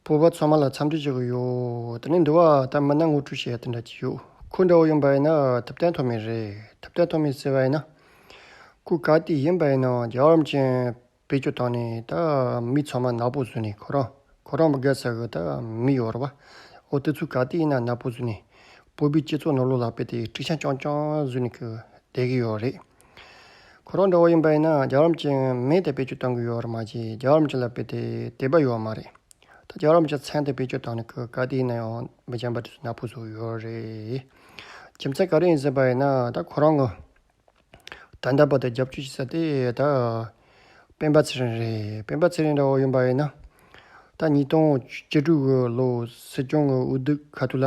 བུ་བ་ཚང་མ་ལ་འཚམས་འདྲི་བྱེད་དགོས་ཡོད་དེ་ནས་འདུལ་བ་ལྟར་མི་སྣ་ངོ་སྤྲོད་བྱེད་ཡ་དེ་འདྲ་ཅིག་ཡོད་ཁུ་འདྲ་བོ་ཡིན་པ་ཡིན་ན་ཐུབ་བསྟན་ཐོག་མེད་རེད་ཐུབ་བསྟན་ཐོག་མེད་ཟེར་བ་ཡིན་ན། ཁུ་ག་དེ་ཡིན་པ་ཡིན་ན་རྒྱ་གར་བ་ཅན་བེད་སྤྱོད་བཏང་ནས་ད་མི་ཚང་མ་ནག་པོ་བཟོས་ནས་ཁོ་རང་ཁོ་རང་མི་དགའ་ཟེར་གི་ད་མི་ཡོ་ར་བ་འོ་དེ་ཚོ་ག་དེ་ཡིན་ན་ནག་པོ་བཟོས་ནས་བོད་པའི་སྤྱི་ཚོགས་ནང་ལོ་ལ་བེད་དེ་ཁྲི་བྱང་རྐྱང་རྐྱང་བཟོས་ནས་བསྡད་གི་ཡོད་རེད། ཁོ་རང་འདྲ་བོ་ཡིན་པ་ཡིན་ན་རྒྱ་གར་གྱི་མི་དེ་བེད་སྤྱོད་གཏོང་གི་ཡོད་བ་མ་བརྗེད་རྒྱ་གར་གྱི་ལ་དཔེ་དེ་དེད་པ་ཡོད་མ་རེད། ད་རྒྱ་གར་གྱི་མཚན་དེ་བེད་སྤྱོད་བཏང་ནས་ཁོས་ག་དུས་ཡིན་ན་ཡང་མི་སྦྱང་པར་ན་ཕུགས་བཟོ་ཡོད་རེད། རྒྱུ་མཚན་ག་རེ་ཡིན་ཟེར་བ་ཡིན་ན་ད་ཁོ་རང་གི་ད་འདྲ་པ་དེ་རྒྱབ་སྐྱོར་བྱེད་ས་དེ་ད་སྤེན་པ་ཚེ་རིང་རེད་སྤེན་པ་ཚེ་རིང་འདྲ་བོ་ཡིན་པ་ཡིན་ན་ད་ཉིས་སྟོང་བཅུ་དྲུག་གི་ལོ་སྲིད་སྐྱོང་གི་འོས་བསྡུ་ག་དུས་ལ་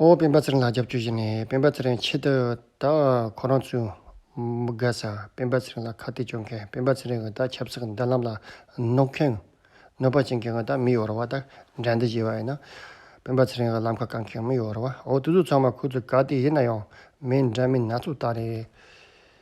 ཨོ་སྤེན་པ་ཚེ་རིང་ལགས་རྒྱབ་སྐྱོར་བཞེས་ནས་སྤེན་པ་ཚེ་རིང་ཆེད་དུ་ད་ཁོ་རང་ཚོའི་མི་དགའ་ས་སྤེན་པ་ཚེ་རིང་ལ་ཁ་གཏད་གཅོག་མཁན་སྤེན་པ་ཚེ་རིང་གི་ད་ཆབ་སྲིད་ཀྱི་མདུན་ལམ་ལ་གནོད་མཁན་གནོད་པ་བྱེད་མཁན་གྱི་ད་མི་ཡོ་རོ་བ་ད་འགྲན་ཟླ་བྱེད་པ་ཡིན་ན་སྤེན་པ་ཚེ་རིང་གི་ལམ་ཁ་བཀག་མཁན་མི་ཡོ་རོ་བའོ་དེ་ཚོ་ཚང་མ་ཁོ་ཚོའི་ག་དེ་ཡིན་ན་ཡང་མི་འདྲ་མིན་སྣ་ཚོགས་ད་རེད།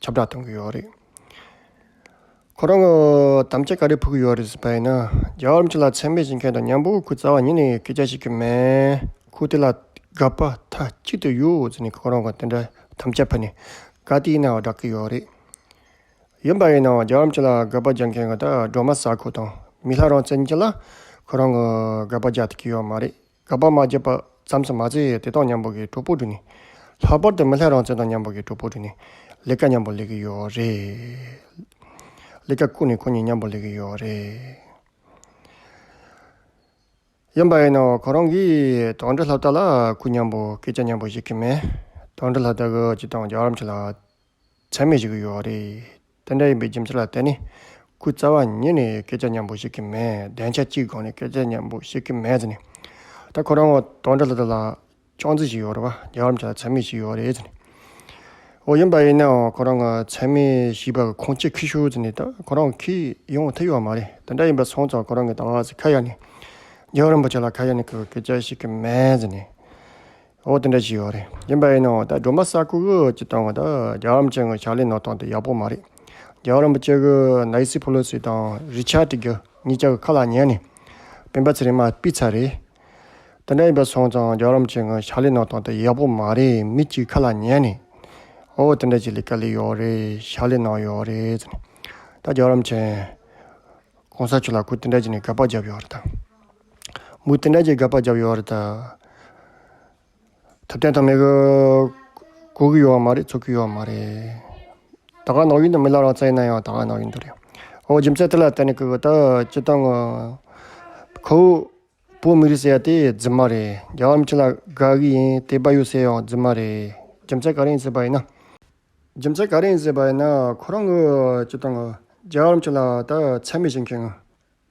ཁྱབ་བསྒྲགས་གཏོང་གི་ཡོད་རེད། ཁོ་རང་གི་དམ་བཅའ་ག་རེ་ཕུལ་གི་ཡོད་རེད་ཟེར་པ་ཡིན་ན། རྒྱ་གར་མི་ལ་ཚད་མེད་བྱེད་མཁན་དང་མྱང་པོའི་ཁུལ་རྩ་བ་ཉིད་ནས་སྐད་ཆ་བཤད་ཀྱི་མེད། ཁུལ་དེ་ལ་དགའ་པ་མཐའ་གཅིག་ཏུ་ཡོད་ཟེར་ནས་ཁོ་རང་གི་དེ་འདྲ་དམ་བཅའ་ཕུལ་ནས་དགའ་བདེའི་སྣང་བ་བསྒྲགས་ཀྱི་ཡོད་རེད། ཡིན་པ་ཡིན་ནའང་རྒྱ་གར་མི་ལ་དགའ་པ་རྒྱག་མཁན་གྱི་སྒྲོལ་མ་ཟ་ཁུ་དང་མི་ལྷ་རང་བཙན་གྱི་ལ་ཁོ་རང་གི་དགའ་པ་རྒྱག་ཐུབ་ཀྱི་ཡོད་མ་རེད། དགའ་བ་མ་སྐྱེས་པ་ཙམ་ཞིག་མ་བྱས་ཡས་དེ་དང་མཉམ་པོ་གི་གྲོགས་པོ་འགྲོ་ནི། ལྷག་པར་དུ་མི་ལྷའི་རང་བཙན་དང་མཉམ་པོ་གི་གྲོགས་པོ་འགྲོ་ནི། ལས་ཀ་མཉམ་པོ་ལས་ཀྱི་ཡོད་རེད། ལས་ཀ་ཁུར་ནས་ཁོ་གཉིས་མཉམ་པོ་ལས་ཀྱི་ཡོད་རེད། ཡིན་པ་ཡིན་ནའོ་ཁོ་རང་གིས་དོན་འགྲུལ་ལྷ་བདག་ལ་ཁུར་མཉམ་པོ་སྐད་ཆ་མཉམ་པོ་བཤད་ཀྱི་མེད། དོན་འགྲུལ་ལྷ་བདག་གིས་ཅི་དང་རྒྱག་རམ་ཆེ་ལ། ཆ་མེད་ཞིག་ཡོད་རེད། དེ་འདྲ་ཡིན་པའི་རྒྱུ་མཚན་ལ་བརྟེན་ནས། ཁོའི་རྩ་བ་ཉིད་ནས་སྐད་ཆ་སྙན་པོ་བཤད་ཀྱི་མེད། བདེན་ཆ་གཅིག་སྒང་ནས་སྐད་ཆ་སྙན་པོ་བཤད་ཀྱི་མེད་ཟེར་ནས། ད་ཁོ་རང་དོན་དགྲ་ལ་དེ་ལ་ཅོང་ཙེ་ཞིག་ཡོད་རེད་བ། རྒྱ་གར་མི་ཆ་ལ་ཆ་མེད་ཞིག་ཡོད་རེད་ཟེར་ནས། འོ་ཡིན་པ་ཡིན་ནའང་ཁོ་རང་ཆ་མེད་ཞིག་པ་ཁོང་ཁྱེད་ཁི་ཤོར་ཟེར་ནས་ད་ཁོ་རང་ཁི་ཡོང་བ་ཐུག་ཡོད་མ་རེད། དེ་འདྲ་ཡིན་པ་སོང་ཙང་ཁོ་རང་གི་ད་ང་ཚོ་ཁ་ཡར་ནས་རྒྱལ་བ་རིན་པོ་ཆེ་ལ་ཁ་ཡར་ནས་ཁོས་སྐད་ཆ་བཤད་ཀྱི་མེད་ཟེར་ནས། འོ་དེ་འདྲ་ཞིག་ཡོད་རེད་ཡིན་པ་ཡིན་ནའང་ད་སྒྲོལ་མ་ས་ཁུག་ཀྱི་བཏང་བ་ད་རྒྱ་གར་རམ་ཅན་གྱི་ཕྱག་ལས་ནང་བཏང་དེ་ཡག་པོ་མ་རེད་རྒྱ་གར་རམ་པ་ཅན་གྱི་ནའི་སི་ཕོ་ལོ་སི་དང་རི་ཆ་ཏི་གྱི་གཉིས་ཀྱང་ཁ་ལག་ཉན་ནས་སྤེན་པ་ཚེ་རིང་མ་སྤི་ཚ་རེད་དེ་འདྲ་ཡིན་པ་སོང་ཙང་རྒྱ་གར་རམ་ཅན་གྱི་ཕྱག་ལས་ནང་བཏང་དེ་ཡག་པོ་མ་རེད་མི་གཅིག་ཁ་ལག་ཉན་ནས་འོ་དེ་འདྲ་ཞིག་ལས་ཀ་ལས་ཡོད་རེད་ཕྱག་ལས་ནང་ཡོད་རེད་ཟེར་ནས་ད་རྒྱ་གར་རམ་ཅན་གོང་ས་མཆོག་ལ་ཁུ་དེ་འདྲ་ཞིག་ནས་ག་པར་བརྒྱབ་ཡོད་རེད་ད། མུ་དེ་འདྲ་ཅིག་དགག་པར་བརྒྱབ་ཡོད་རེད། ཐབས་བརྟན་ཐབས་མེད་ཀྱི། གོ་གི་ཡོད་བ་མ་རེད་ཚོར་གི་ཡོད་བ་མ་རེད། ད་ག་ནང་བཞིན་དུ་མི་ལ་རང་བཙན་ཡིན་ན་ཡང་ད་ག་ནང་བཞིན་དུ་རེད། ཨོ་རྒྱུ་མཚན་དེ་ལ་བརྟེན་ནས་ཀྱི་ད་སྤྱི་བཏང་ངོ། ཁོ་བོས་བོད་མི་རིགས་ཟེར་ཡ་དེ་རྫུན་མ་རེད། རྒྱ་བ་མི་ཆེན་ལ་དགག་གི་ཡིན་དེ་བ་ཡུ་ཟེར་ཡང་རྫུན་མ་རེད། རྒྱུ་མཚན་ག་རེ་ཡིན་ཟེར་བ་ཡིན་ན། རྒྱུ་མཚན་ག་རེ་ཡིན་ཟེར་བ་ཡིན་ན་ཁོ་རང་གི་སྤྱི་བཏང་ངོ། རྒྱ་བ་མི་ཆེན་ལ་ད་ཚད་མེད་བྱེད་མཁན་ངོ།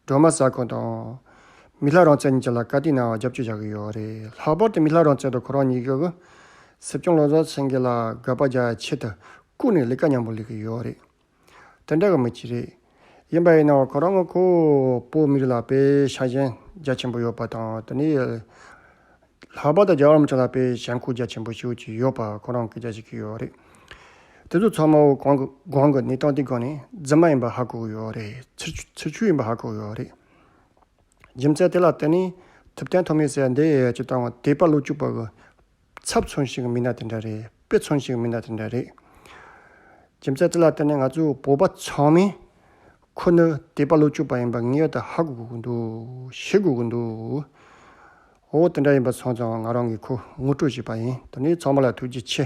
སྒྲོལ་མ་ཟ་ཁང་དང། མི་ལྷ་རང་བཙན་གཉིས་ཀྱི་ལ་བཀའ་དེ་ནའང་རྒྱབ་སྐྱོར་བྱ་གི་ཡོད་རེད་ལྷག་པར་དུ་མི་ལྷ་རང་བཙན་དང་ཁོ་རང་གཉིས་ཀྱི། སྲིད་སྐྱོང་བློ་བཟང་སེང་གེ་ལ་དགག་པ་རྒྱག་ཡ་ཆེད་དུ་བཀུག་ནས་ལས་ཀ་སྙམ་པོ་ལས་གི་ཡོད་རེད། དེ་འདྲ་གི་མི་གཅིག་རེད། ཡིན་པ་ཡིན་ནའང་ཁོ་རང་ངོ་ཁོ་བོའི་མི་རིགས་ལ་དཔེ་ཆ་གཞན་རྒྱ་ཆེན་པོ་ཡོད་པ་དང་དེ་ནས། ལྷག་པར་དུ་རྒྱ་གར་རམ་ཆ་ལག་པའི་གཞན་ཁུག་རྒྱ་ཆེན་པོ་ཞིག་ཅིག་ཡོད་པ་ཁོ་རང་གིས་ཅིག་ཡོད་རེད། དེ་ཚོ་ཚང་མ་བོད་གོང་གི་གནས་སྟངས་དེ་གོ་ནས་རྫུན་མ་ཡིན་པ་ཧ་གོ་གི་ཡོད་རེད། ཚུར་ཆུད་ཡིན་པ་ཧ་གོ་གི་ཡོད་རེད། རྒྱུ་མཚན་དེ་ལ་བརྟེན་ནས་ཐུབ་བསྟན་ཐོག་མའི་སྲས་འདས་ཀྱི་བཏང་བ་དེ་པ་ལོ་བཅུ་པ་གི་ཚབ་མཚོན་ཞིག་མིན་ན་དེ་འདྲ་རེད་དཔེ་མཚོན་ཞིག་མིན་ན་དེ་འདྲ་རེད། རྒྱུ་མཚན་དེ་ལ་བརྟེན་ནས་ང་ཚོ་བོད་པ་ཚང་མས་ཁོ་ནི་དེ་པ་ལོ་བཅུ་པ་ཡིན་པ་ངེས་དུ་ཧ་གོ་གི་འདུག་ཤེས་དགོས་ཀྱི་འདུག། འོ་དེ་འདྲ་ཡིན་པ་སོང་ཙང་ང་རང་གི་ཁུ་དངུལ་སྤྲོད་བཞིན་པ་ཡིན། དོ་ནི་ཚང་མ་ལ་ཐུགས་རྗེ་ཆེ།